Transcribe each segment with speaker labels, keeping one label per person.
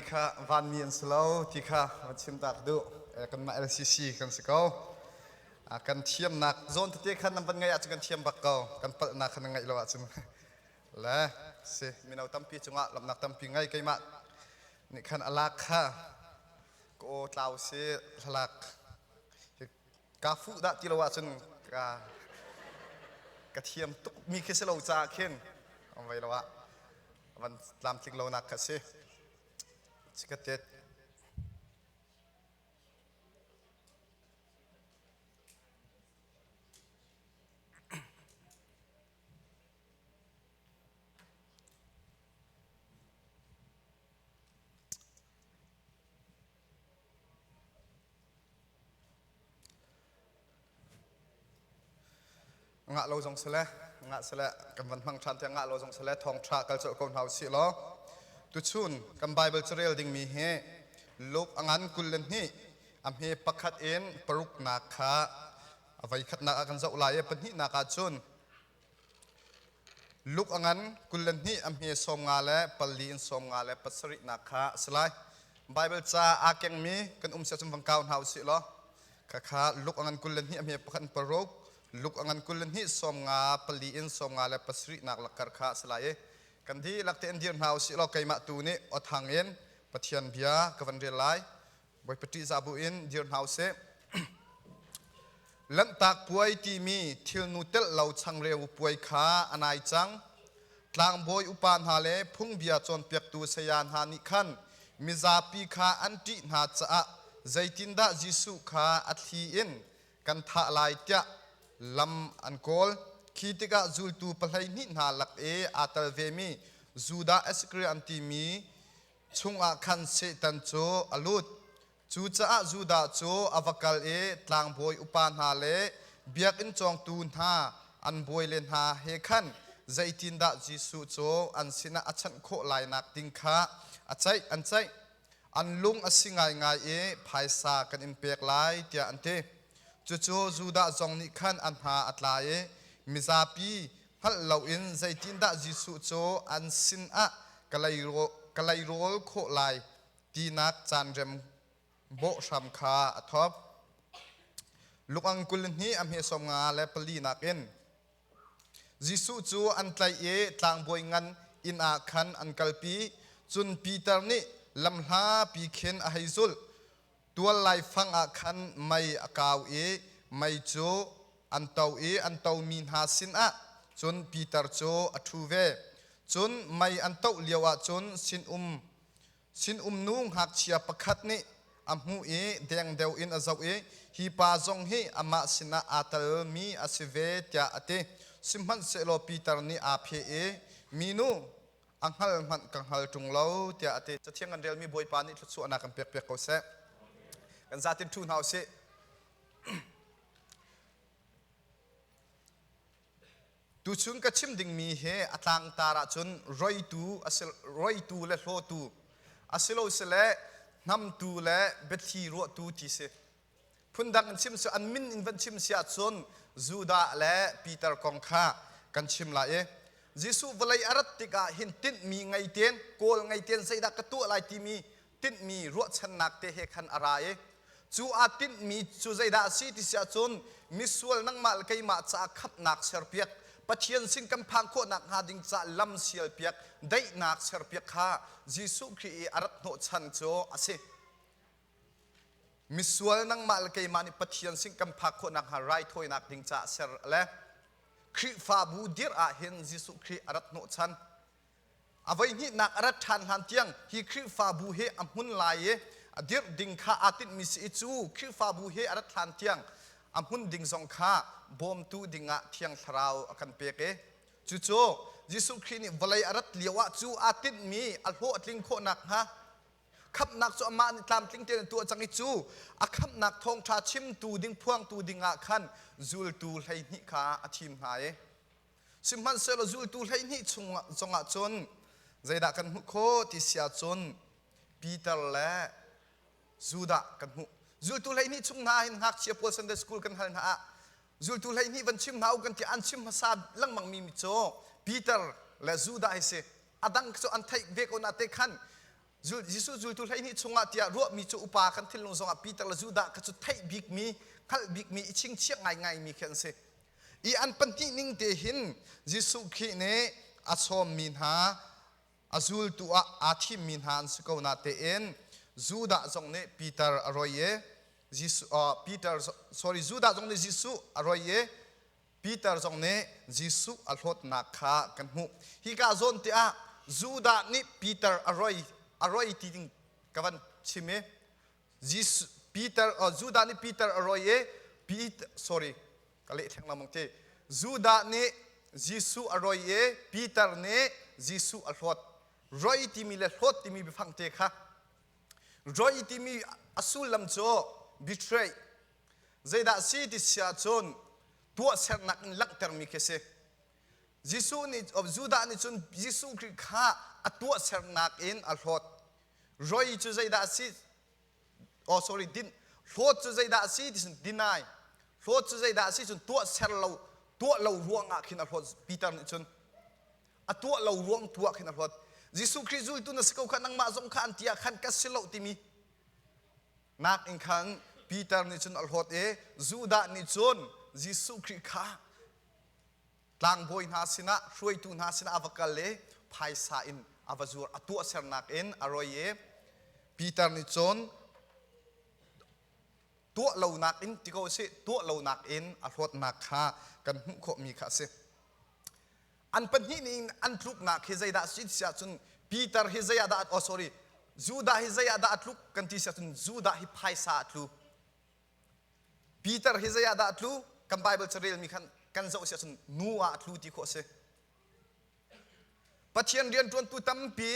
Speaker 1: Hi kha vanmi an si lo ti kha va chimta ka duh. Kanmah LCC kan si ko. Kan thiamnak zawn tete khan nan van ngaih ahcun kan thiam bak ko. Kan palhnak khan nan ngaih lo ahcun. Le si mino tampi cungah lamnak tampi ngai keimah nih khan a lak kha ka aw tlau si hlalak kaa fuh dah ti lo ahcun ka ka thiam tukmi khi si lo caah khin um ve lo ah van tlamtling lonak kha si cikatet ngah lo zong sile ngah sile kan van hmang ṭhan tiah ngah lo zong sile thawngṭha kal colh ko hna usih law tuchun kan Bible carel dingmi hi Luke a ngan kul le hnih a hme pakhat in paruknak kha a voi khatnak ah kan zoh lai i pahnihnak ah cun Luk a ngan kul le hnih a hme sawm nga le palli in sawm nga le pasarihnak kha a si lai. Baibal ca aa kengmi kan um siah cun van kau hna u sih law khakha luk a ngan kul le hnih a hme pakhat in paruk luk a ngan kul le hnih sawm nga pali in sawm nga le pasarihnak lakkar kha a si lai i kan dihlak tein dir hna u sih law keimah tu nih aw thang in Pathian bia ka van rel lai Bawipa ṭihzah buin dir hna u sih. Lanhtak puai timi thilnu telh lo changreu puai kha a nai cang. Tlangbawi upa hna le phungbia cawnpiaktu saya hna nih khan mizapi kha an ṭih hna caah zeitindah Jesuh kha a thli in kan thah lai tiah lam an kawl. Khi tikah zultu pahleihnih hna lak i aa tel vemi Judah Iskariot an timi chungah khan Satan cu a lut. Cucaah Judah cu a va kal i tlangbawi upa hna le biakinn cawngtu hna an bawile hna he khan zeitindah Jesuh cu an sinah a chanh khawh lainak ding kha a ceih an ceih. An lung a si ngaingai i phaisa kan in pek lai tiah an ti. Cucu Judah zong nih khan a hna a tla i mizapi hngalh loin zeitindah Jesuh cu an sinah ka leirawl khawh lai tinak caanrem bawh hram kha a thawk. Lukang kul hnih a hmesawm nga le pali nakin Jesuh cu an tlaih i tlangbawi ngan inn ah khan an kalpi. Cun Peter nih lamhlapi khin a hei zulh. tual laifang ah khan mei a kau i mei cu an to i an tomi hna sinah cun Peter cu a ṭhu ve. Cun mei an toh lioah cun sinum sinum nu ngakchia pakhat nih a hmuh i dengdeo in a zoh i, Hi pa zong hi amah sinah aa telmi a si ve, tiah a ti. Sihmanhsehlaw Peter nih aa pheh i, Minu, a hngal hmanh ka hngal ṭung lo tiah a ti. Cathiang kan relmi Bawipa nih thluachuahnak kan pekpiak ko seh. Kan zatin ṭhu hna u sih. Tuchun ka chim dingmi he a tlangtar ahcun roitu, roitu le hlawtu, asilosile hnamtu le biathli ruahtu ti si. Phundang in chim cu an min in van chim si ahcun Judah le Peter kong kha kan chim lai i Jesuh vawlei a rat tikah hin tinhmi ngei tein kawl ngei tein zeidah ka tuah lai timi tinhmi ruahchannak te he khan a ra i cu aa tinhmi cu zeidah a si ti si ahcun misual nangmah le keimah caah khatnak serpiak Pathian sin kan phang khawh nakhnga ding caah lam sial piak daihnak serpiak kha Jesuh Khrih i a rat hnawh chan cu a si. Misual nangmah le keimah nih Pathian sin kan phak khawh nakhnga raithawinak ding caah ser le Khrihfabu dirh ah hin Jesuh Khrih a rat hnawh chan. A voihnihnak a rat ṭhan hlan tiang hi Khrihfabu he a hmun lai i a dirh ding kha aa tinhmi si i cu Khrihfabu he a rat hlan tiang a hmun ding zong kha bawmtu dingah thiang thlarau a kan pek i cucu Jesuh Khrih nih vawlei a rat lio ah cu aa tinhmi a hlawhtling khawh nakhnga khamhnak cu amah nih tlamtling tein a tuah cang i cu a khamhnak thawngṭha chimtu ding phuangtu dingah khan zultu hleihnih kha a thim hna i sihmanhsehlaw zultu hleihnih chung zongah cun zeidah kan hmuh khawh ti sia cun Peter le Judah kan hmuh zultu hleihnih chung hna hin ngakchia pawl Sunday school kan hal hna ah zultu hleihnih van chim hna u kan ti an chim hmasa lengmangmi mi cu Peter le Judah hi si a dang cu an theih ve ko na te khan Jesuh zultu hleihnih chungah tiah ruahmi cu upa kan thinlung zongah Peter le Judah kha cu theih bikmi hngalh bikmi i chingchiah ngaingaimi khi an si i an pahnih ning te hin Jesuh Khrih nih a sawmmi hna a zultu ah aa thimmi hna an si ko na tein Judah zong nih Peter a roi i Jesuh uh, Peter sorry Judah zong nih Jesuh a roi i Peter zong nih Jesuh a hlawtnak kha kan hmuh. Hika zawn te ah Judah nih Peter a roi a roi ti ding ka van chim i Jesuh Peter uh, Judah nih Peter a roi i Peter sorry ka leh theng lengmang ti Judah nih Jesuh a roi i Peter nih Jesuh a hlawt roi timi le hlawt timi biafang te kha roi timi a sullam cu betray Zeidah si ti si ahcun tuahsernak in langhtermi khi a si. Jesuh nih Judah nih cun Jesuh Khrih kha a tuahsernak in a hlawt. Roi cu zeidah a si? Oh sorry, din. Hlawt cu zeidah a si ti cun deny. Hlawt cu zeidah a si cun tuahser lo tuah lo ruangah khin a hlawt. Peter nih cun a tuah lo ruang tu ah khin a hlawt. Jesuh Khrih zultu na si ko kha nangmah zong kha an ti ah khan ka si lo timi Nakin khan Peter nih cun a hlawt i Judah nih cun Jesuh Khrih kha tlangbawi hna sinah hruaitu hna sinah a va kal i phaisa in a va zuar a tuahsernak in a roi i Peter nih cun tuah lonak in ti ko sih tuah lonak in a hlawtnak kha kan hmuh khawhmi kha a si. An pahnih nih in an tluknak hi zeidah a si si ahcun Peter hi zei ah dah oh sorry Judah hi zei ah dah a tluk kan ti si ahcun Judah hi phaisa a tlu Peter hi zei ah dah a tlu kan Bible carel mi khan kan zoh si ahcun nu ah a tlu ti khawh a si Pathian rianṭuantu tampi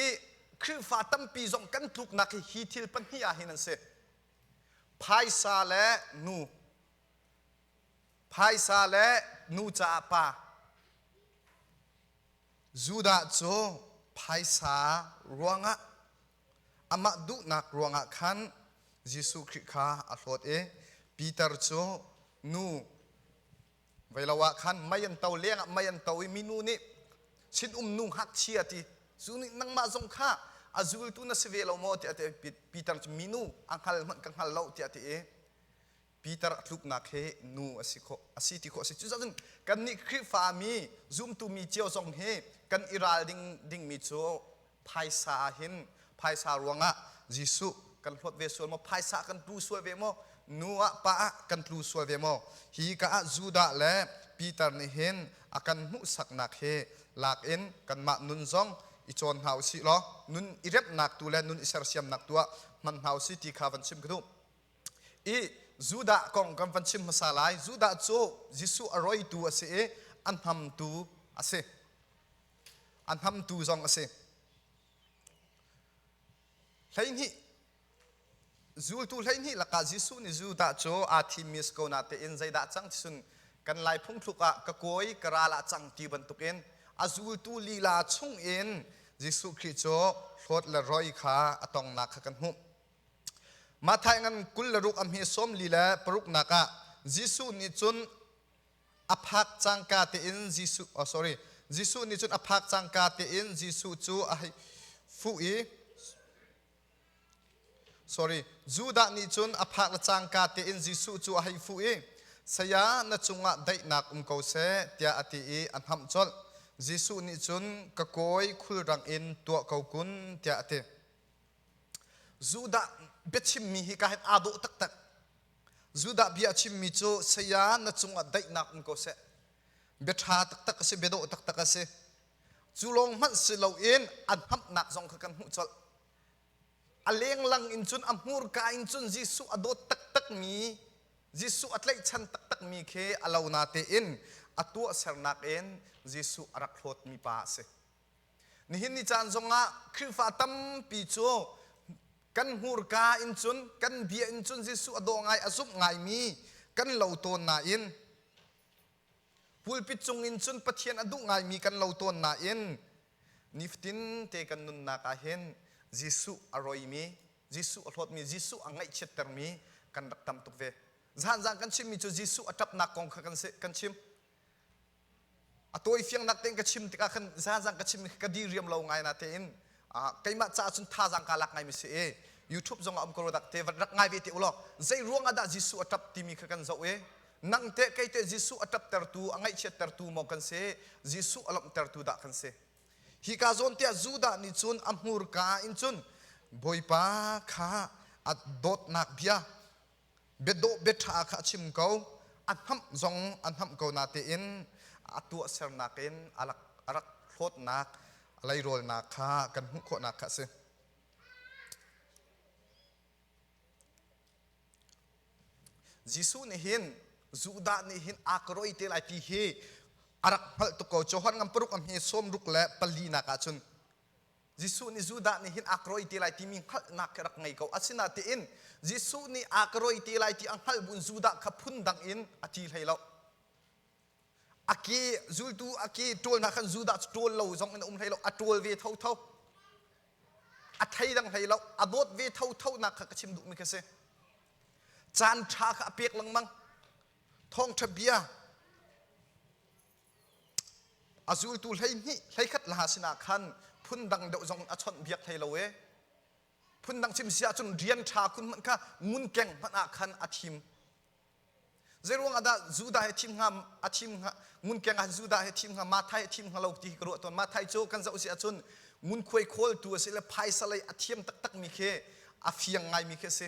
Speaker 1: Khrihfa tampi zong kan tluknak hi hi thil pahnih ah hin an si phaisa le nu Phaisa le nu caah pa. Judah cu phaisa ruangah amah duhnak ruangah khan Jesuh Khrih kha a hlawt i Peter cu nu vei lo ah khan mei an to lengah mei an to i minu nih sinum nu ngakchia ti zu nih nangmah zong kha a zultu na si ve lo maw tiah ti Peter cu minu a hngal hmanh ka hngal lo tiah ti i Peter a tluknak hi nu a si khawh a si ti khawh a si. Cucaah cun kannih Khrihfami zumtumi cio zong hi kan i ral ding dingmi cu phaisa ah hin phaisa ruangah Jesuh kan hlawt ve sual maw, phaisa ah kan tlu sual ve maw, nu ah pa ah kan tlu sual ve maw? Hi ka ah Judah le Peter nih hin a kan hmuhsaknak hi lak in kanmah nun zong i cawn hna u sih law nun i remhnak tu le nun i sersiamnak tu ah hman hna u sih ti kha van chim ka duh. i Judah kong kan van chim hmasa lai. Judah cu Jesuh a roitu a si i a hnamtu a si. A hnamtu zong a si. Hleihnih zultu hleihnih lakah Jesuh nih Judah cu aa thimmi a si ko natein zeidah cang ti cun kan lai phungthluk ah ka kawi ka ral ah cang ti bantukin a zultu lila chung in Jesuh Khrih cu hlawt le roi kha a tongnak kha kan hmuh. Matthai ngan kul le ruk a hme sawm li le paruknak ah Jesuh nih cun a phak cangka tein Jesuh oh sorry Jesuh nih cun a phak cangka tein Jesuh cu a hei fuh i sorry Judah nih cun a phak le cangka tein Jesuh cu a hei fuh i saya na cungah daihnak um ko seh tiah a ti i a hnamh colh Jesuh nih cun ka kawi khulrang in tuah ko kun tiah a ti Judah biachimmi hi ka hin aa dawh taktak. Judah bia a chimmi cu saya na cungah daihnak um ko seh. Biaṭha taktak a si, biadawh taktak a si. Cu lawng hmanh si loin an hamnak zong kha kan hmuh colh. A lenglang in cun a hmurka in cun Jesuh a dawt taktakmi, Jesuh a tlaihchan taktakmi khi a lo na tein a tuahsernak in Jesuh a rak hlawtmi pa a si. Nihin ni caan zongah Khrihfa tampi cu kan hmurka in cun kan bia in cun Jesuh a daw ngai a zumh ngaimi kan lo tawn nain pulpit cung in cun Pathian a duh ngaimi kan lo tawn nain nifatin te kan nunnak ah hin Jesuh a roimi Jesuh a hlawtmi Jesuh a ngaihchiattermi kan rak tam tuk ve. Zan zan kan chimmi cu Jesuh a ṭapnak kong kha kan chim. a tawifiang nak tein ka chim tikah khan zazang ka chim ka di riam lo ngai na tein keimah caah cun thazang ka lak ngai mi si e youtube zong ah um ko rak te rak ngai ve te ulo zei ruang ah dah jesu a tap timi kha kan zoh e nang te kei te jesu a tap tertu a ngaihchiat tertu mo kan se jesu a lomh tertu dah kan se hi ka zawn tia judah ni cun a hmur ka in cun bawipa kha at dawtnak bia biadawh biaṭha kha a chim ko, a hnamh zong a hnamh ko natein a tuahsernak in a rak, a rak hlawtnak, a leirolnak kha kan hmuh khawhnak kha a si. Jesuh nih hin Judah nih hin aa ka roi te lai ti hi a rak hngalh tuk ko. Johan ngam paruk a hme sawm ruk le pali nak ah cun Jesuh nih Judah nih hin aa ka roi te lai timi hngalhnak ka rak ngei ko. Asinatein Jesuh nih aa ka roi te lai ti a hngalh buin Judah kha phundang in a ti hlei lo. A ke zultu a ke ṭawl hna khan Judah cu ṭawl lo zong in a um hlei lo. A ṭawl ve thotho. A theidang hlei lo. A dawt ve thotho nak kha ka chim duhmi khi a si. Caan ṭha kha a pek lengmang. Thawngṭha bia a zultu hleihnih hleikhat laha sinah khan phundang deuh zong a chawnh biak hlei lo e phundang chim si ahcun rian ṭha kun hmanh kha ngun keng hmanh ah khan a thim zei ruang ahdah Judah he thim hnga a thim hnga ngun keng ah Judah he thim hnga Mathai he thim hnga lo ti ka ruah tawn Mathai cu kan zoh si ahcun ngun khuai khawltu a si le phaisa lei a thiam taktakmi khi a fiang ngaimi khi a si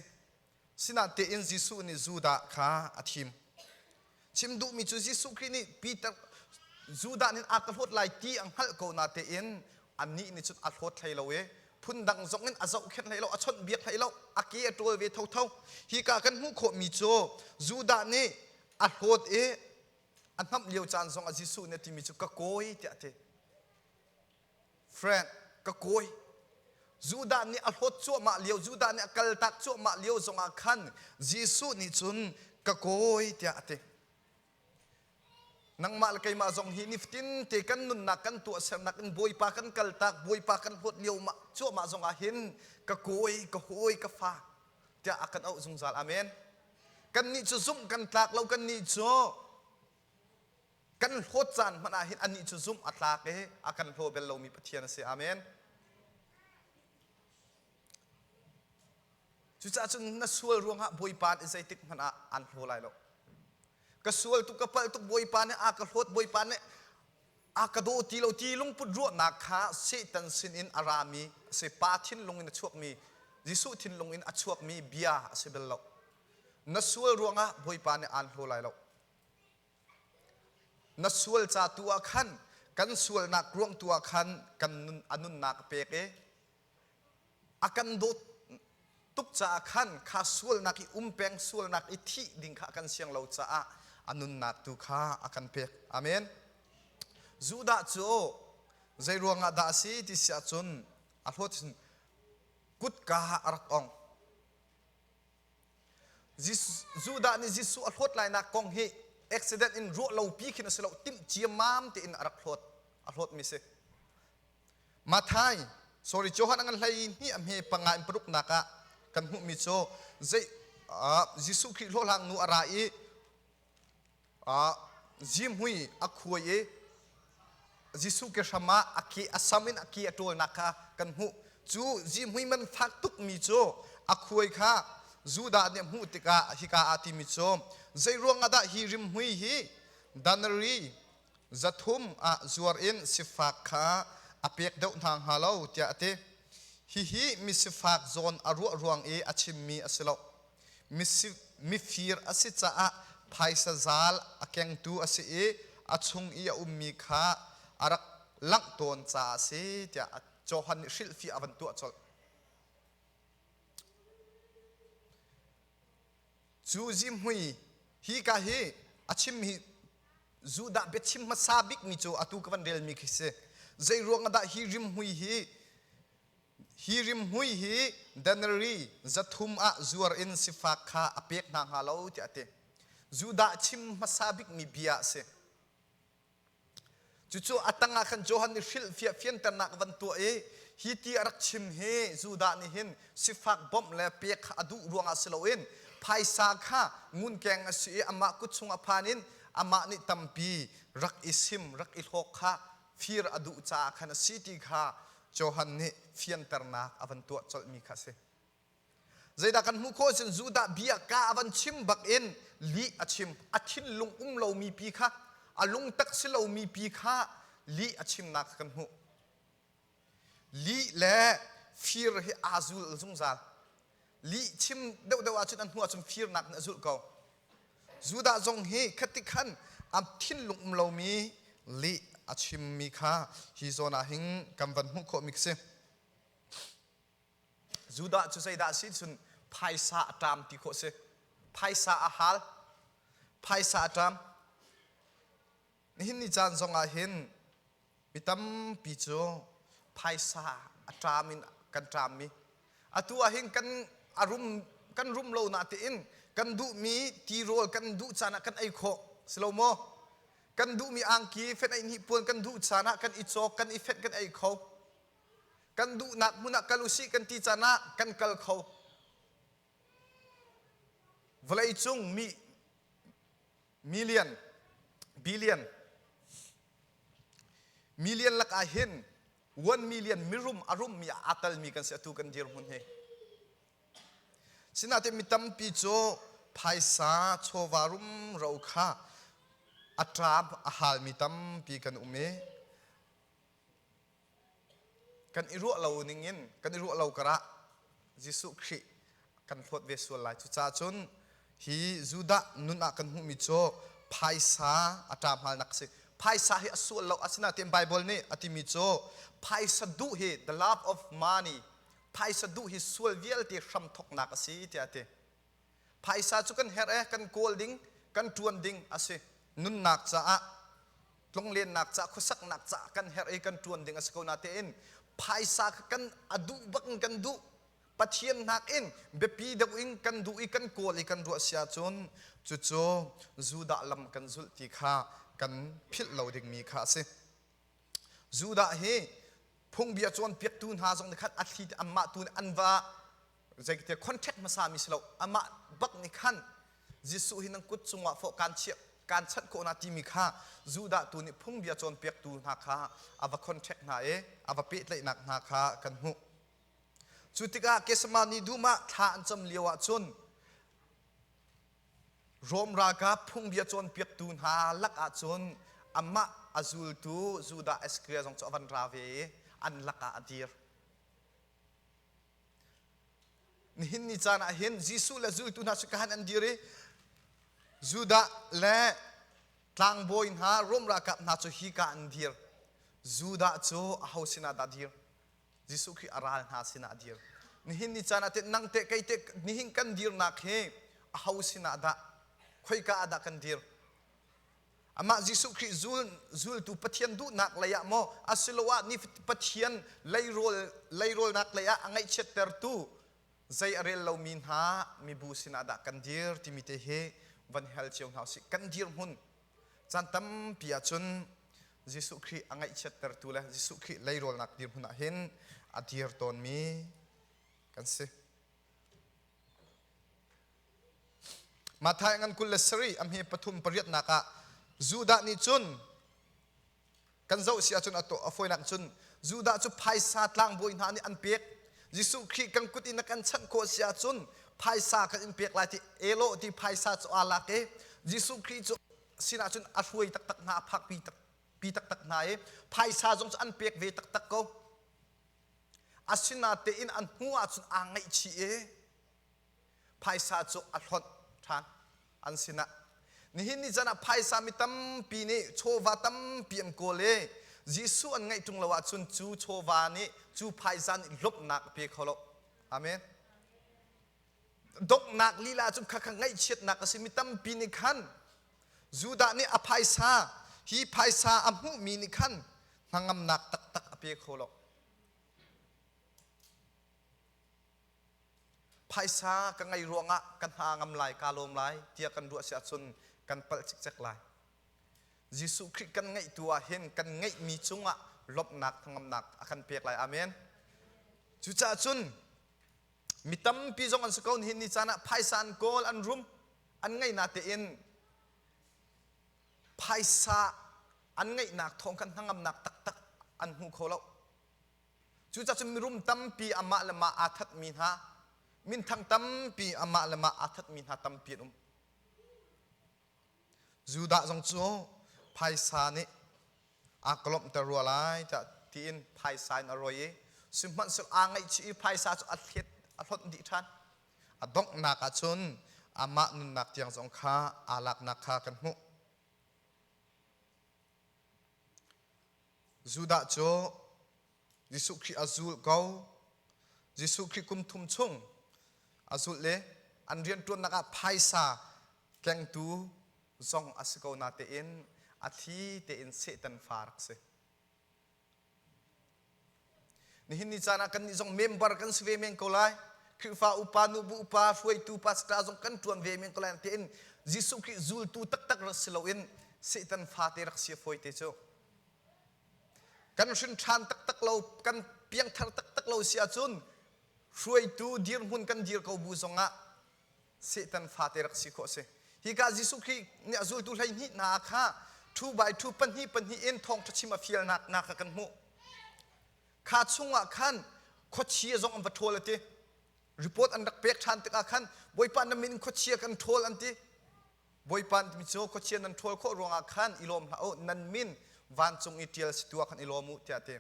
Speaker 1: Sinatein Jesuh nih Judah kha a thim. Chim duhmi cu Jesuh Khrih nih Peter Judah nih a ka hlawt lai ti a hngalh ko natein annih nih cun a hlawt hlei lo i phundang zong in a zohkhenh hlei lo, a chawnhbiak hlei lo, a ke a ṭawl ve thotho. Hika kan hmuh khawhmi cu Judah nih a hlawt i a hnamh lio caan zongah Jesuh nih a timi cu ka kawi tiah a ti. Friend, ka kawi, Judah nih a hlawt cuahmah lio, Judah nih a kaltak cuahmah lio zongah khan Jesuh nih cun ka kawi tiah a ti. Nangmah le keimah zong hi nifatin te kan nunnak kan tuah sernak in Bawipa kan kaltak, Bawipa kan hlawt lio cuahmah zongah hin ka kawi, ka hawi, ka fa tiah a kan auh zungzal. Amen. Kannih cu zumh kan tlak lo, kannih cu kan hlawt caan hmanh ah hin anih cu zumh a tlak i a kan hlaw bel lomi Pathian a si. Amen. Cucaah cun na sual ruangah Bawipa nih zeitik hmanh ah an hlaw lai lo. Ka sual tuk, ka palh tuk Bawipa nih a ka hlawt, Bawipa nih a ka daw ti lo ti lungput ruahnak kha Satan sinin a rami a si pa thinlung in a chuakmi Jesuh thinlung in a chuakmi bia a si bel lo. Na sual ruangah Bawipa nih aan hlaw lai lo. Na sual ca tu ah khan kan sualnak ruang tu ah khan kan a nunnak a pek i a kan dawt tuk caah khan kha sualnak i um peng sualnak i thih ding kha kan siang lo caah a nunnak tu kha a kan pek amen Judah cu zei ruangah dah a si ti si ahcun a hlawt kutka a rak ong Judah nih Jesuh a hlawt lainak kong hi accident in ruah lopi khin a si lo timh ciammam tein a rak hlawt a hlawtmi si Mathai sorry Johan angan hlei ni a hme panga in paruk nak ah kan hmuhmi cu zei Jesuh Khrih hlawhlang nu a ra i ah zihmui a khuai i Jesuh ke hram ah a ke a sam in a ke a ṭawlnak kha kan hmuh. Cu zihmui man fak tukmi cu a khuai kha Judah nih a hmuh tikah hika ah timi cu zei ruangah dah hi rimhmui hi danari zathum ah zuar in sifak kha a pek deuh hna hnga lo tiah a ti. Hihi misifak zawn a ruah ruang i a chimmi a si lo. mifir a si caah phaisa zal a kengtu a si i a chung i a ummi kha a rak langh tawn caah a si tiah Johan nih hrilhfi a van tuah colh. Cu zihmui hika hi a chim hi Judah biachim hmasa bikmi cu atu ka van relmi khi si. Zei ruang ah dah hi rimhmui hi Hi rimhmui hi Daneri zathum ah zuar in sifak kha a pek hna hnga lo tiah a ti. Judah chim hmasa bikmi bia a si. Cucu a tangah khan Johan nih hrilhfiah fianternak van tuah i hi ti a rak chim hi Judah nih hin sifak bawmh le pek a duh ruangah si loin phaisa kha ngunkeng a si i amah kut chung a phan in amah nih tampi rak i sim, rak i hlawk kha fir a duh caah khan a si ti kha Johan nih fianternak a van tuah colhmi kha a si. Zeidah kan hmuh khawh cun Judah biaka a van chim bak in lih a chim. A thinlung um lomi pi kha, a lungtak si lomi pi kha lih a chimnak kan hmuh. lih le fir hi aa zul zungzal lih chim deuhdeuh ahcun an hmuh ahcun firnak in a zulh ko judah zong hi khati khan a thinlung um lomi lih a chimmi kha hi zawn ah hin kan van hmuh khawhmi si judah cu zeidah si cun phaisa a ṭam ti khawh si phaisa a hal phaisa a ṭam Nihin ni caan zongah hin mi tampi cu phaisa a ṭam in kan ṭam i atu ahhin kan a rum kan rum lo natein kan duhmi tirawl kan duh caan ah kan ei khawh si lo maw? Kan duhmi angki fenh ei hnipuan kan duh caan ah kan i cawk kan i fenh kan ei kho. Kan duhnak hmun ah kal usih kan ti caan ah kan kal kho. Vawleicung mi million, billion. Million lakah hin 1 million mirum a rummi a kalmi kan si atu kan dirhmun hi. Sinain mi tampi cu phaisa chawva rum ro kha a ṭab a halmi tampi kan um i kan i ruah lo ning in kan i ruah lo karah Jesuh Khrih kan hlawt ve sual lai cucaah cun hi Judah nun ah kan hmuhmi cu phaisa a ṭa hmalnak a si phaisa hi a sual lo asinain Bible nih a timi cu phaisa duh hi the love of money phaisa duh hi sual vialte hram thawknak a si tiah a ti Phaisa cu kan herh e, kan kawl ding, kan ṭuan ding a si. Nunnak caah, tlunglennak caah, khuasaknak caah kan herh i kan ṭuan ding a si ko natein phaisa kha kan a duh bak in kan duh. Pathian nakin biapi deuh in kan duh i kan kawl i kan ruah si ahcun cucu Judah lam kan zulh ti kha kan philh lo dingmi kha a si. Judah hi phungbia cawnpiaktu hna zong nih khan a thli amah tu nih an va zeikte contract hmasa mi si lo amah bak nih khan Jesuh hi nan kut cungah fawh kaan chiah kaan chanh khawh na timi kha Judah tu nih phungbia cawnpiaktu hna kha a va contract hna i a va pehtlaihnak hna kha kan hmuh cu tikah Getsemani dum ah thla an cam lio ah cun Rom ralkap phungbia cawnpiaktu hna lakah cun amah a zultu Judah Iscariot zong cu a van ra ve i an lakah a dir. Nihin ni caan ah hin Jesuh le zultu hna cu kahan an dir i Judah le tlangbawi hna Rom ralkap hna cu hika an dir. Judah cu aho sinah dah dir? Jesuh Khrih a ral hna sinah a dir. Nihin ni caan ah teh nang teh kei teh nihin kan dirnak hi aho sinah dah khoika ah dah kan dir? Amah Jesuh Khrih zul, zultu Pathian duhnak lei ah maw asiloah ni Pathian leirawl leiraulnak lei ah a ngaihchiattertu zei a rel lomi hna mibu sinah dah kan dir timi te hi van hel cio hna usih. Kan dirhmun Caan tampi ahcun Jesuh Khrih a ngaihchiattertu le Jesuh Khrih leirolnak dirhmun ah hin a dir tawnmi kan si. Matthai ngan kul le sarih a hme pathum pariatnak ah Judah nih cun Kan zoh si ahcun a tuah a fawinak cun Judah cu phaisa tlangbawi hna nih an pek. Jesuh Khrih kan kut in a kan chanh khawh si ahcun phaisa kan in pek lai ti elo ti phaisa cu aa lak i Jesuh Khrih cu sinah cun a hruai taktak hna a phakpi takpi taktak hna i phaisa zong cu an pek ve taktak ko. Asinatein an hmuh ahcun aa ngaihchih i Phaisa cu a hlonh ṭhan an sinah. Nihin ni can ah phaisa mi tampi nih chawva tampi an kawl i Jesuh an ngaih ṭung lo ahcun cu chawva nih cu phaisa nih lawmhnak a pe kho lo. Amen. Donghnak lila cu khakha ngaihchiatnak a si. Mi tampi nih khan Judah nih a phaisa hi phaisa a hmuhmi nih khan hnangamnak taktak a pe kho lo. Phaisa ka ngei ruangah ka hna ngam lai, ka lawm lai tiah kan ruah si ahcun kan palh cikcek lai. Jesuh Khrih kan ngeih tu ah hin kan ngeihmi cungah lawmhnak thangamnak a kan pek lai. Amen. Cucaah cun mi tampi zong an si ko nihin ni caan ah phaisa an kawl, an rum, an ngeihna tein phaisa an ngeihnak thawng khan hnangamnak taktak an hmu kho lo. Cucacun mirum tampi amah le mah aa thatmi hna, minthang tampi amah le mah aa thatmi hna tampi an um. Judah zong cu phaisa nih aa kolomhter rua lai tiah tiin phaisa in a ruai i sihmanhsehlaw aa ngaihchih i phaisa cu a thlet a hlawt dih ṭhan. A donghnak ah cun amah nunnak tiang zong kha aa laknak kha kan hmuh. Judah cu Jesuh Khrih a zul ko. Jesuh Khrih kum thum chung a zul le an rianṭuannak ah phaisa tlengtu zong a si ko natein a thli tein Satan fa rak si. Nihin ni caan ah kannih zong member kan si ve men ko lai. Khrihfa upa, nubu upa, hruaitu pastor zong kan ṭuan ve men ko lai. Tiin Jesuh Khrih zultu taktak rak si loin Satan fate rak si fawi te cu. Kan hrin ṭhan taktak lo, kan piangthar taktak lo si ahcun hruaitu dirhmun kan dir ko bu zongah Satan fate rak si khawh a si. Hika Jesuh Khrih nih a zultu hleihnih hna kha thu by thu pahnih pahnih in thawngṭha chim a fialnak hna kha kan hmuh. Kha chungah khan khuachia zong an va ṭhawl a ti. Report an rak pek ṭhan tikah khan Bawipa na min in khuachia kan ṭhawl an ti. Bawipa timi cu khuachia nan ṭhawl khawh ruangah khan i lawm hlah u, nan min vancung i ṭial si tua khan i lawm u tiah a ti.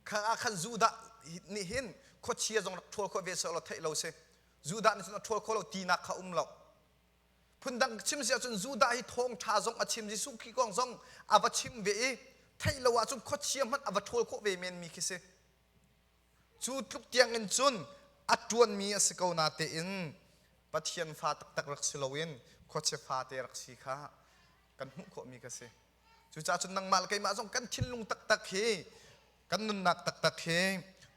Speaker 1: kha ah khan Judah nih hin khuachia zong rak ṭhawl khawh ve seh law theih lo si Judah nih cun a ṭhawl kho lo tinak kha um lo phundang chim si ahcun Judah hi thawngṭha zong a chim Jesuh Khrih kong zong a va chim ve i theih lo ahcun khuachia hmanh a va ṭhawl khawh ve men mi khi si cu tluk tiangin cun a ṭuanmi a si ko na tein Pathian fa taktak rak si loin khuachia fate rak si kha kan hmuh khawhmi ka si Cucaah cun nangmah le keimah zong kan thinlung taktak hi kan nunnak taktak hi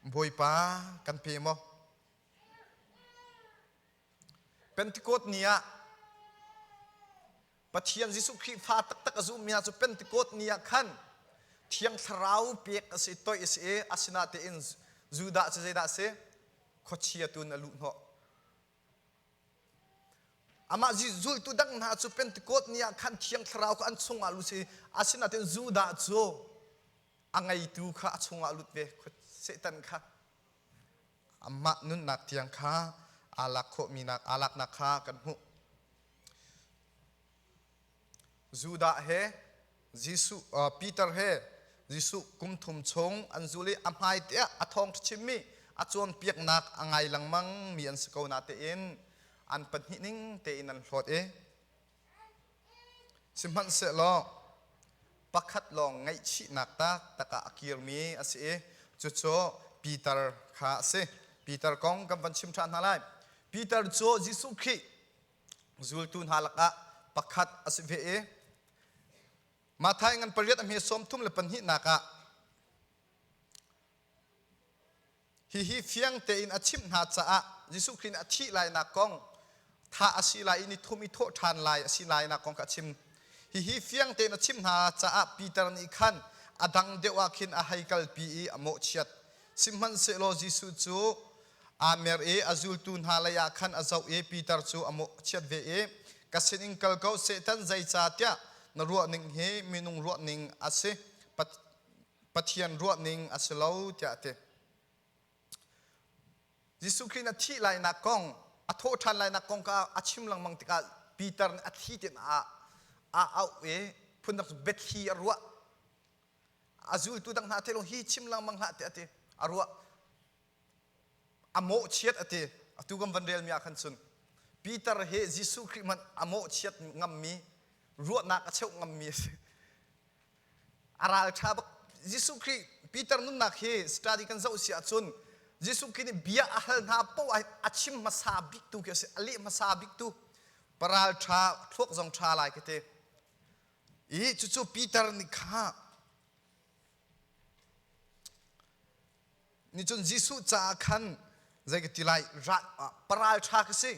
Speaker 1: Bawipa kan pe maw? Pentecost ni ah Pathian Jesuh Khrihfa taktak a zummi cu Pentecost ni ah khan Thiang Thlarau pek a si toih a si i asinatein Judah cu zeidah a si? Khuachia tu in a luh hnawh. Amah zultu dang hna cu Pentecost ni ah khan Thiang Thlarau kha an chungah lut si asinain Judah cu a ngeitu kha a chungah lut ve Satan kha amah nunnak tiang kha aa lak khawhmi aa laknak kha kan hmuh. Judah he Jesuh Peter he Jesuh kum thum chung an zul i a hmaite ah a thawng chimmi a cawnpiaknak a ngai lengmang mi an si ko natein an pahnih ning tein an hlawt i sihmanhsehlaw pakhat lawng ngaihchihnak tak takah a kirmi a si i cucu Peter kha a si. Peter kong kan van chim ṭhan hna lai. Peter cu Jesuh Khrih zultu hna lakah pakhat a si ve i Mathai ngan pariat a hme sawmthum le pahnihnak ah hihi fiang tein a chimh hna caah Jesuh Khrih nih a thih lainak kong tha a si lai i ni thum i thawh ṭhan lai a si lainak kong kha a chim hihi fiang tein a chimh hna caah Peter nih khan a dang deuh ah khin a hei kalpi i a mawhchiat Sihmanhsehlaw Jesuh cu aa mer i a zultu hna leiah khan a zoh i Peter cu a chiat ve i ka sinin kal ko Satan zeicahtiah na ruahning hi minung ruahning a si Pathian ruahning a si lo tiah a ti Jesuh Khrih na thih lainak kong a thawh ṭhan lainak kong kha a chim lengmang tikah Peter nih a thi tinak ah a auh i phun rak betthli a ruah a zultu dang hna te lawng hi chim lengmang hlah ti ati a ruah a mawhchiat ati atu kan van relmi ah khan cun Peter he Jesuh Khrih hmanh a mawhchiat ngammi ruahnak a cheuh ngammi a si a ralṭha bak Jesuh Khrih Peter nunnak hi study kan zoh si ahcun Jesuh Khrih nih bia a hal hna poah a chim hmasa bik tu khi a si a leh hmasa bik tu paralṭha thluak zong ṭha lai ka ti i cucu Peter nih kha nicun Jesuh caah khan zei ka ti lai paral ṭha ka si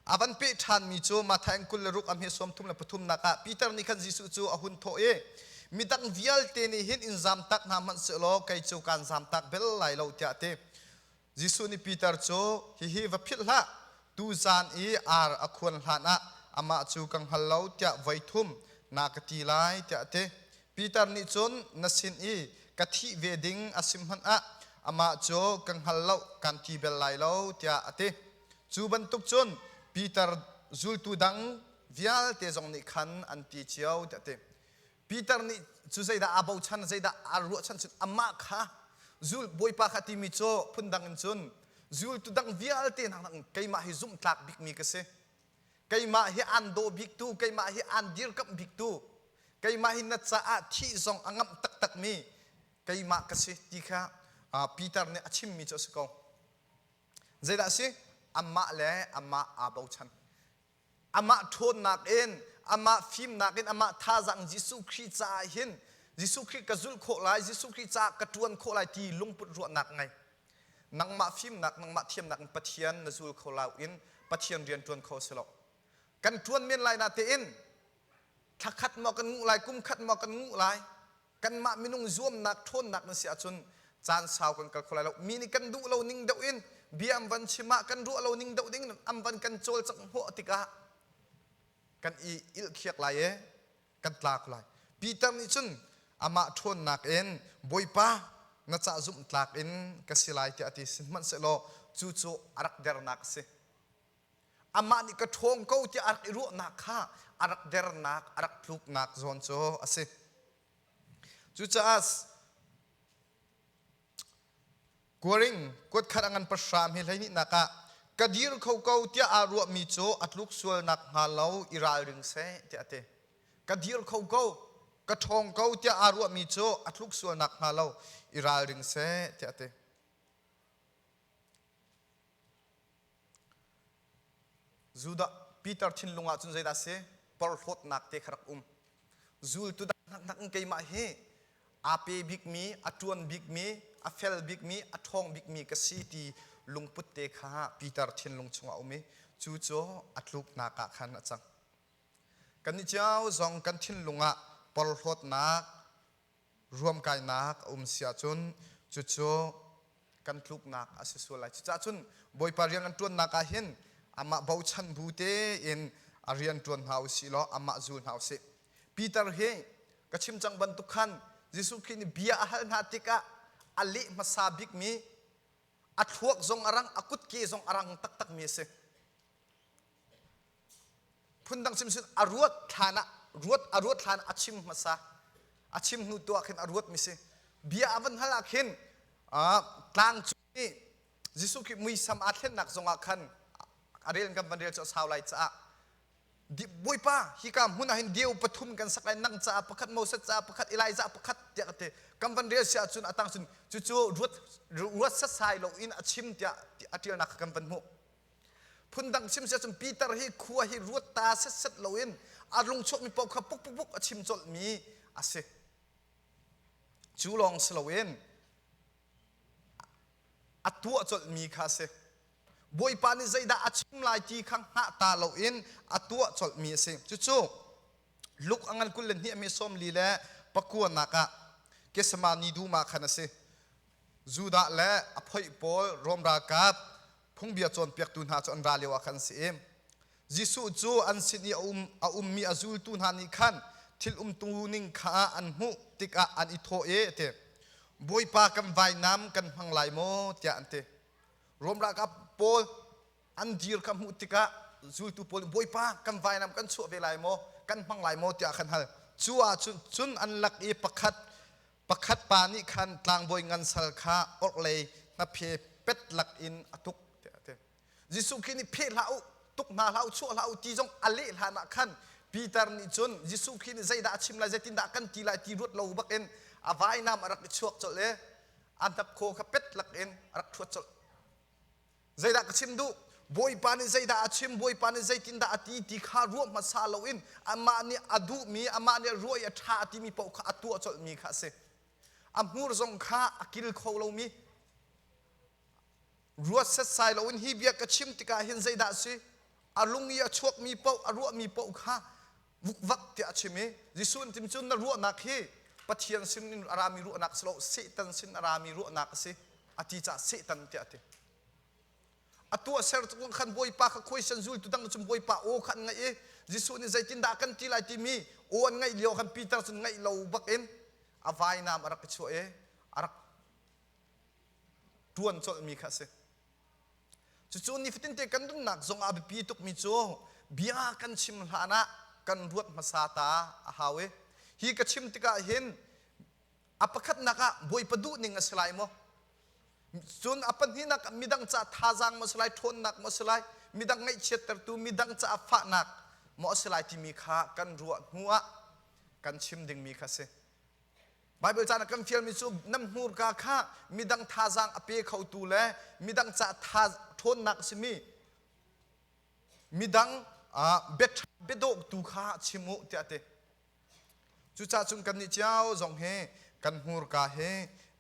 Speaker 1: a van peh ṭhanmi cu Matthai kul le ruk a hme suam thum le pathumnak ah Peter nih khan Jesuh cu a hun thawh i midang vialte nih hin in zam tak hna hmanh seh law kei cu kaan zam tak bel lai lo tiah a ti Jesuh nih Peter cu, Hihi va philh hlah, tuzan i ar a khuan hlanah amah cu ka hngal lo tiah voi thum na ka ti lai, tiah a ti. Peter nih cun, Na sin i ka thih ve ding a si hmanh ah amah cu ka hngal lo, kaan ti bel lai lo, tiah a ti. Cu bantuk cun Peter zultu dang vialte zong nih khan an ti cio, tiah a ti. Peter nih cu zeidah aa bochan, zeidah aa ruahchan cun amah kha zul Bawipa kha timi cu phundang in cun zultu dang vialte hna in keimah hi zumhtlak bikmi ka si. Keimah hi aan daw biktu, keimah hi aan dirkamh biktu, keimah hi na caah thih zong a ngamh taktakmi keimah ka si ti kha Peter nih a chimmi cu a si ko. Zeidah a si? Amah le amah aa bochan. Amah ṭhawnnak in, amah fimnak in, amah thazang Jesuh Khrih caah hin Jesuh Khrih ka zulh khawh lai, Jesuh Khrih caah ka ṭuan khawh lai ti lungput ruahnak ngei. Nangmah fimnak, nangmah thiamnak in Pathian na zul kho lo in Pathian rian ṭuan kho a si lo. Kan ṭuan men lai na tein thla khat maw kan nguh lai, kum khat maw kan nguh lai, Kanmah minung zuamnak ṭhawnnak na si ahcun caan sau kan kal kho lai lo. Mi nih kan duh lo ning deuh in bia an van chim ah kan ruah lo ning deuh ding an van kan cawlcanghhnawh tikah kan i ilhkiak lai i kan tla kho lai. Peter nih cun amah ṭhawnnak in, Bawipa, na ca zumhtlak in ka si lai tiah a ti. Sihmanhsehlaw cucu a rak dernak a si. Amah nih ka ṭhawng ko tiah a rak i ruahnak kha a rak dernak, a rak tluknak zawn cu a si. Cucaah kuaring kuat khat a ngan pahram hi hleihnih ah ka dir kho ko tiah aa ruahmi cu a tluk sual nakhnga lo i ralring seh tiah a ti. Ka dir kho ko, ka ṭhawng ko tiah aa ruahmi cu a tluk sual nakhnga lo i ralring seh tiah a ti. Judah Peter thinlung ah cun zeidah a si? Porhlawtnak te kha rak um. Zultu dahnak in keimah hi aa pe bikmi, a ṭuan bikmi, a fel bikmi, a ṭhawng bikmi ka si ti lungput te kha Peter thinlung chungah a um i cu cu a tluknak ah khan a cang. Kannih cio zong kan thinlung ah porhlawtnak ruamkainak a um si ahcun cucu kan tluknak a si sual lai. Cucaah cun Bawipa rian an ṭuannak ah hin amah bochan bu tein a rian ṭuan hna u sih law amah zul hna u sih. Peter hi ka chim cang bantuk khan Jesuh Khrih nih bia a hal hna tikah a leh hmasa bikmi a thluak zong a rang, a kutke zong a rang taktakmi a si. phundang chimsin a ruat thlan ah ruat a ruat thlan a chim hmasa a chim hnu tuah khin a ruat mi si bia a van hal ah khin tlang cung nih Jesuh Khrih muisam aa thlennak zong ah khan a rel kan van rel cu a sau lai caah Bawipa hika hmun ah hin deu pathum kan sak lai nang caah pakhat Moses caah pakhat Elijah pakhat tiah ka ti kan van rel si ahcun a tang cun cucu ruat ruat sasai lo in a chim tiah a ṭialnak kha kan van hmuh Phundang chim si ahcun Peter hi khua hi ruat ta setset loin a lungchuahmi paoh kha pukpukpuk a chim colhmi a si. Cu lawng si loin a tuah colhmi kha a si. Bawipa nih zeidah a chim lai ti kha hngah ta loin a tuah colhmi a si. Cucu Luke a ngan kul le hnih a mesawm li le pakuanak ah Getsemani duma khan a si. Judah le a phoih pawl Rom ralkap Phungbia cawnpiaktu hna cu an ra lio ah khan an si i Jesuh cu an sin i a um a ummi a zultu hna nih khan thil umtu ning kha an hmuh tikah an i thawh i a ti, Bawipa kan vainam kan hmang lai maw? tiah an ti. Rom ralkap pawl an dir kha hmuh tikah zultu pawl nih Bawipa kan vainam kan chuah ve lai maw? Kan hmang lai maw? tiah khan hal. Cu ah cun cun an lak i pakhat Pakhat pa nih khan tlangbawi ngan sal kha orhlei hnaphe pet lak in a tuk tiah a ti. Jesuh Khrih nih pheh hlah u, tuk hna hlah u, chuah hlah u ti zong a leh hlan ah khan Peter nih cun Jesuh Khrih nih zeidah a chim lai, zeitindah a kan ti lai ti ruat lo bakin a vainam a rak i chuak colh i a hnapkhaw kha pet lak in a rak ṭhuat colh. zeidah ka chim duh bawipa nih zeidah a chim bawipa nih zeitindah a ti ti kha ruah hmasa loin amah nih a duhmi amah nih ruah i a ṭha a timi paoh kha a tuah colhmi kha a si a hmur zong kha a kil kho lomi ruat setsai loin hi bia ka chim tikah hin zeidah a si a lung i a chuakmi paoh a ruahmi paoh kha Vukvak tiah a chim i Jesuh an tim cun na ruahnak hi Pathian sinin a rami ruahnak si lo Satan sin a rami ruahnak a si a ti caah Satan tiah a ti. A tuahser tukang khan Bawipa kha question zultu dang cu Bawipa aw kha an ngaih i Jesuh nih zeitindah kan ti lai timi aw an ngaih lio khan Peter cun ngaih lo bakin a vainam a rak i chuah i a rak ṭuan colhmi kha a si. Cucu nifatinte kan nunnak zong a biapi tukmi cu bia kan chim hlan ah kan ruat hmasa ta a hau i hi ka chim tikah hin a pakhatnak ah bawipa duh ning a si lai maw cun a pahnihnak ah midang ca thazaang maw si lai ṭhawnnak maw si lai midang ngaihchiattertu midang ca fahnak maw a si lai timi kha kan ruah hnu ah kan chim dingmi kha si Baibal caan ah kan fialmi cu nam hnurka kha midang thazaang a pe khotu le midang ca tha ṭhawnnak simi midang biaṭha biadawhtu kha chim u tiah a ti. Cucaah cun kannih cio zong hi kan hnurka hi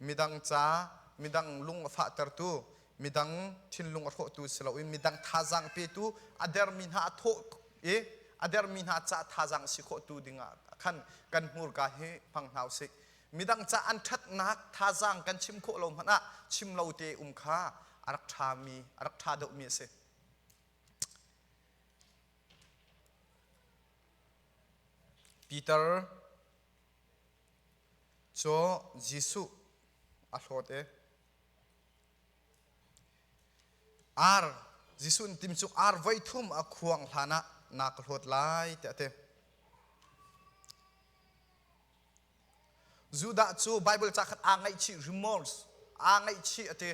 Speaker 1: midang ca midang lung a fahtertu midang thinlung a hrawhtu si loin midang thazaang petu a dermi hna a thawh i a dermi hna ca thazaang si khawhtu dingah khan kan hmurka hi hmang hna usih midang ca an ṭhatnak thazaang kan chim khawh lo hmanh ah chim lo te um kha a rak ṭhami a rak ṭha deuhmi a si Peter cu Jesuh a hlawt i Ar Jesuh in tim cu ar voithum a khuang hlan ah na ka hlawt lai tiah a ti. Judah cu Baibal ca khat aa ngaihchih remorse aa ngaihchih a ti.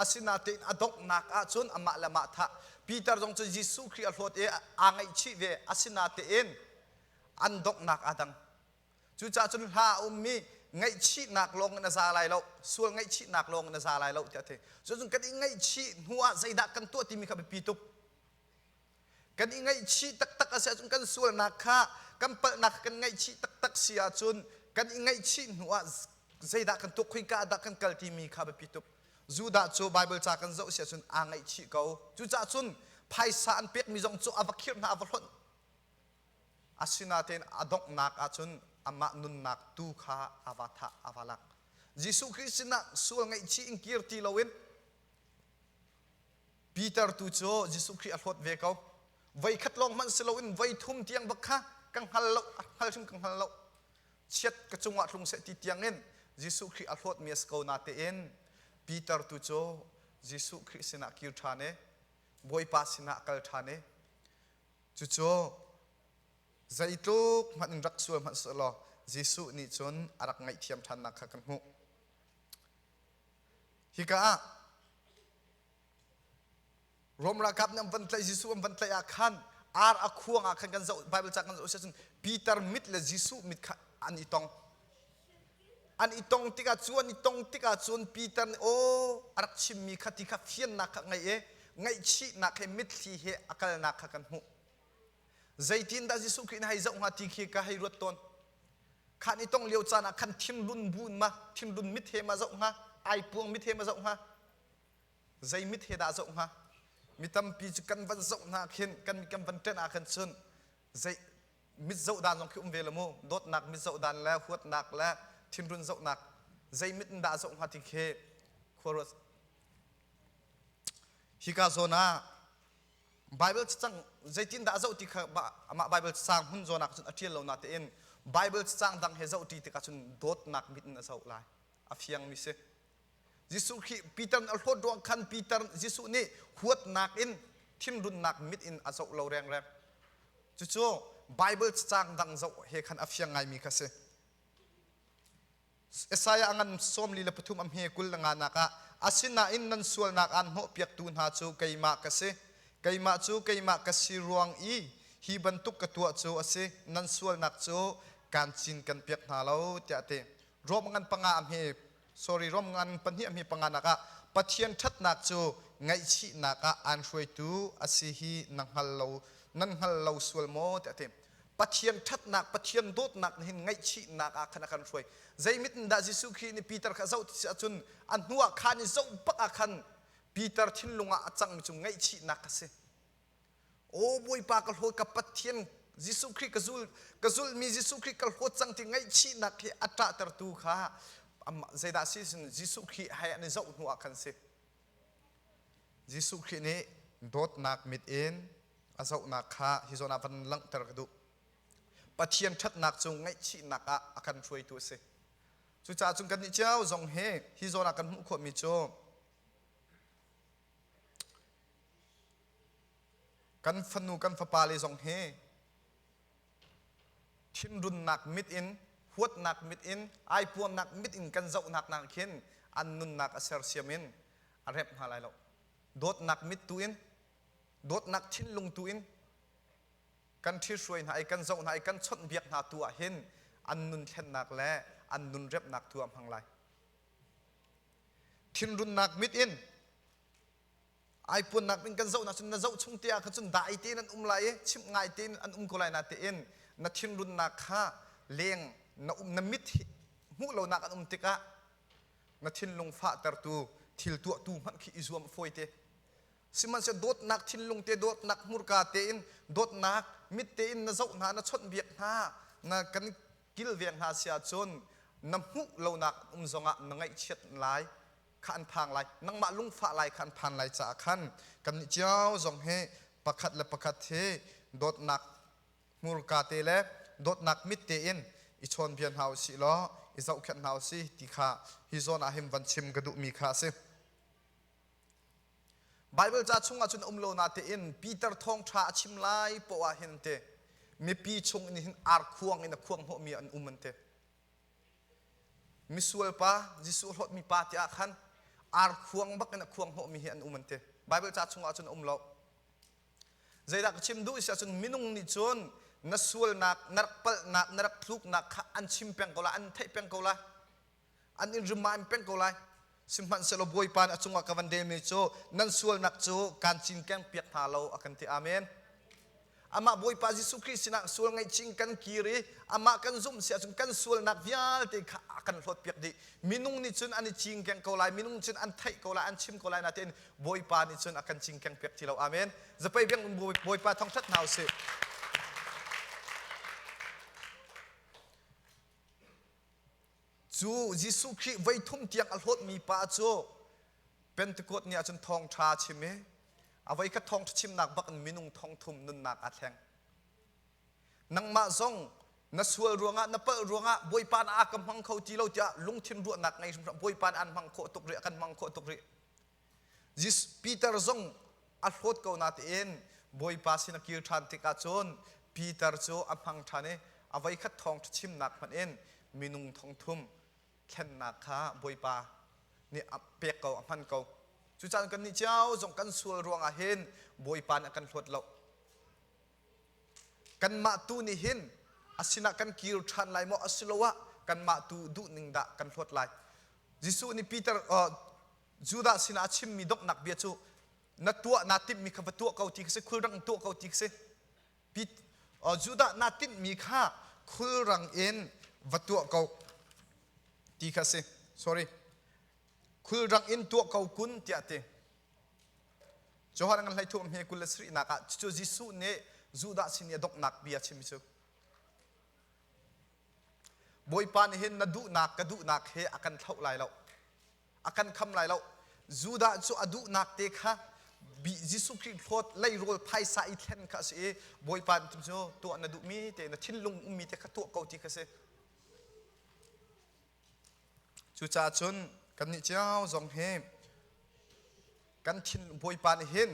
Speaker 1: Asinatein a donghnak ahcun amah le amah thah Peter zong cu Jesuh Khrih a hlawt i aa ngaihchih ve. Asinatein an donghnak aa dang. Cucah cun hla a ummi ngaihchihnak lawng in a za lai lo, sual ngaihchihnak lawng in a za lai lo tiah a ti. Cun kan i ngaihchih hnu ah zeidah kan tuah timi kha biapi tuk. Kan i ngaihchih taktak a si ahcun kan sualnak kha kan palhnak kan ngaihchih taktak si ahcun kan i ngaihchih hnu ah zeidah kan tuah, khoika ah dah kan kal timi kha biapi tuk. Judah cu Baibal ca kan zoh si ahcun aa ngaihchih ko. Cucah cun phaisa an pekmi zong cu a va khirh hna, a va hlonh. Asinatein a donghnak ahcun amah nunnak tu kha ava thah, ava lak. Jesuh Khrih sinah sual ngaihchih in kir ti loin Peter tu cu Jesuh Khrih a hlawt ve ko. Voikhat lawng hmanh si loin voi thum tiang bak kha ka hngal lo, a hngal hrim ka hngal lo. Chiat ka cungah tlung seh ti tiangin Jesuh Khrih a hlawtmi a si ko natein Peter tu cu Jesuh Khrih sinah kir ṭhan i Bawipa sinah a kal ṭhan i Cucu zeitluk hmanh in rak sual hmanh seh law Jesuh nih cun a rak ngaihthiam ṭhannak kha kan hmuh. Hika ah Rom ralkap nih an van tlaih Jesuh an van tlaih ah khan ar a khuang ah khan kan zoh Bible ca kan zoh siah cun Peter mit le Jesuh mit kha an i tong. an i tong tikah cu an i tong tikah cun Peter nih aw a rak chimmi kha ti kha fiannak kha ngaih i ngaihchihnak he mitthli he a kalnak kha kan hmuh zeitindah Jesuh Khrih nih hei zoh hnga ti khi ka hei ruat tawn khan i tong lio caan ah khan thimlun buin ma thimlun mit he ma zoh hnga aipuang mit he ma zoh hnga zei mit he dah zoh hnga mi tampi cu kan van zoh hna khin kan kan van ṭenh ah khan cun zei mit zohdan zong khi um ve lo mu dawtnak mit zohdan le huatnak le thinrun zohnak zei mit in dah zoh hnga ti khi khuaruat hika zawn ah Bible cacang zeitin dah zoh ti kha amah Bible cacang hun zawn ah cun a ṭial lo na tein Bible cacang dang he zoh ti tikah cun dawtnak mit in a zoh lai a fiang mi si Jesuh khi Peter a hlawt ruang khan Peter Jesuh nih huatnak in thinrunnak mit in a zoh lo rengreng. Cucu Bible cacang dang zoh he khan a fiang ngaimi kha si. Isaiah ngan sawm li le pathum a hme kul le nganak ah, asinain nan sualnak aan hnawhpiaktu hna cu keimah ka si, keimah cu keimah ka si ruang i hi bantuk ka tuah cu a si, nan sualnak cu kaan cinken piak hna lo, tiah a ti. Rom ngan panga a hme, sorry, Rom ngan pahnih a hme panga nak ah Pathian ṭhatnak cu ngaihchihnak ah aan hruaitu a si hi na hngal lo, nan hngal lo sual maw? tiah a ti. Pathian ṭhatnak, Pathian dawtnak nih hin ngaihchihnak ah khan a kan hruai. Zeimit in dah Jesuh Khrih nih Peter kha a zoh ti si ahcun a hnuah khan i zoh bak ah khan Peter thinlung ah a cangmi cu ngaihchihnak a si. Aw Bawipa ka hlawi ka Pathian Jesuh Khrih ka zul ka zulmi Jesuh Khrih ka hlawt cang ti ngaihchihnak hi a ṭahtertu kha amah zeidah si sin Jesuh Khrih hai an i zoh hnu ah khan si Jesuh Khrih nih dawtnak mit in a zohnak kha hi zawn ah van langhter ka duh Pathian ṭhatnak cu ngaihchihnak ah a kan hruaitu a si cucaah cun kannih cio zong hi hi zawn ah kan hmuh khawhmi cu kan fanu kan fapale zong hi thinrunnak mit in huatnak mit in aipuannak mit in kan zohnak nak khin an nunnak a sersiam in a rep hna lai lo dawtnak mit tu in dawtnak thinlung tu in kan ṭhihruai hna i kan zoh hna i kan chawnhbiak hna tu ah hin an nun thlennak le an nun repnak tu ah hmang lai thinrunnak mit in ai puannak in kan zoh cun na zoh chung te ah kha cun dah ai tein an um lai i chimh ngai tein an um ko lai na tein na thinrunnak kha leng na um na mit hmuh lonak an um tikah na thinlung fahtertu thil tuahtu hmanh khi i zuam fawi te sihmanhsehlaw dawtnak thinlung te dawtnak hmurka tein dawtnak mit tein na zoh hna na chawnhbiak hna na kan kilveng hna sia cun na hmuh lonak um zongah na ngaihchiat lai kha an phang lai nangmah lungfah lai kha an phan lai caah khan kannih cio zong hi pakhat le pakhat hi dawtnak hmurka te le dawtnak mit tein i chawnbia hna u sih law i zohkhenh hna u si ti kha hi zawn ah hin van chim ka duhmi kha a si Baibal ca chungah cun um lo na tein Peter thawngṭha a chim lai poah hin te mipi chung in hin ar khuang in a khuang hnawhmi an um an ti Misual pa, Jesuh a hlawtmi pa tiah khan ar khuang bak in a khuang hnawhmi hi an um an ti. Baibal ca chungah cun a um lo. Zeidah ka chim duh si ahcun minung nih cun na sualnak, na rak palhnak, na rak thluknak kha an chim peng ko lai, an theih peng ko lai, an in remind peng ko lai. Sihmanhsehlaw Bawipa nih a cungah ka van relmi cu nan sualnak cu kaan cinkeng piak hna lo a kan ti. Amen. Amah Bawipa Jesuh Khrih sinah sual ngaihchih in kan kir i amah kan zumh si ahcun kan sualnak vialte kha a kan hlawtpiak dih. Minung nih cun an i cingkeng ko lai, minung cun an theih ko lai, an chim ko lai natein Bawipa nih cun a kan cingkeng piak ti lo. Amen. Zapei biang um Bawipa thawng ṭhat hna u sih. Cu Jesuh Khrih voithum tiang a hlawtmi pa cu Pentecost ni ahcun thawngṭha a chim i a voikhat thawngṭha chimnak bak in minung thongthum nunnak aa thleng. Nangmah zong na sual ruangah na palh ruangah Bawipa na aa ka hmang kho ti lo tiah lungthin ruahnak ngei hrimhrim Bawipa na an hmang khawh tuk rih a kan hmang khawh tuk rih. Peter zong a hlawt ko natein Bawipa sin a kir ṭhan tikah cun Peter cu a hmang ṭhan i a voikhat thawng ṭhachimnak hmanh in minung thongthum thlennak kha Bawipa nih a pek ko, a hman ko. Cucaah kannih cio zong kan sual ruangah hin Bawipa nih a kan hlawt lo. kanmah tu nih hin a sinah kan kir ṭhan lai maw asiloah kanmah tu duhning dah kan hlawt lai Jesuh nih Peter Judah sinah a chimmi donghnak bia cu na tuah naa timhmi kha va tuah ko ti khi si khulrang tuah ko ti khi si Judah naa tinhmi kha khulrang in va tuah ko ti kha si sorry khulrak in tuah ko kun tiah ti Johan an hlei thuk hme kul le sarih nak ah cucu Jesuh nih Judah sin i a doknak bia chimmi cu Bawipa nih hin na duhnak ka duhnak he a kan thlauh lai lo a kan kham lai lo Judah cu a duhnak te kha bi Jesuh Khrih hlawt leirawl phaisa i thlen kha a si i Bawipa nih cu tuah na duhmi te na thinlung ummi te kha tuah ko ti kha si Cucaah cun kannih cio zong hi kan thinlung Bawipa nih hin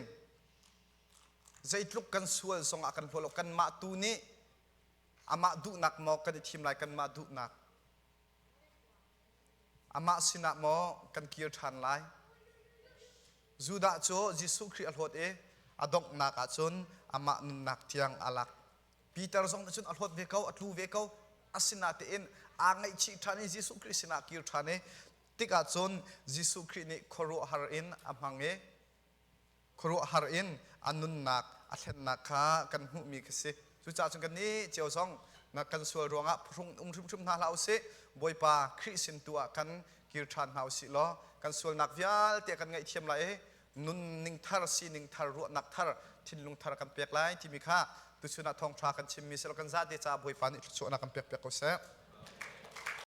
Speaker 1: zeitluk kan sual zongah kan hlaw lo kanmah tu nih amah duhnak maw kan i thim lai kanmah duhnak amah sinah maw kan kir ṭhan lai Judah cu Jesuh Khrih a hlawt i a donghnak ah cun amah nunnak tiang aa lak Peter zong nih cun a hlawt ve ko a tlu ve ko a sinatein aa ngaihchih ṭhan i Jesuh Khrih sinah a kir ṭhan i tikah cun Jesuh Khrih nih khuaruahhar in a hmang i khuaruahhar in a nunnak a thlennak kha kan hmuhmi khi si cucaah cun kan nih cio zong na kan sual ruangah phrung um hrimhrim hna hlah usih Bawipa Khrih sin tu ah kan kir ṭhan hna usih law kan sualnak vialte kan ngaihthiam lai i nunning thar sining thar ruahnak thar thinlung thar kan pek lai timi kha tuchun ah thawngṭha kan chimmi silo kan zate caah bawipa nih thluachuahnak kan pek piak ko seh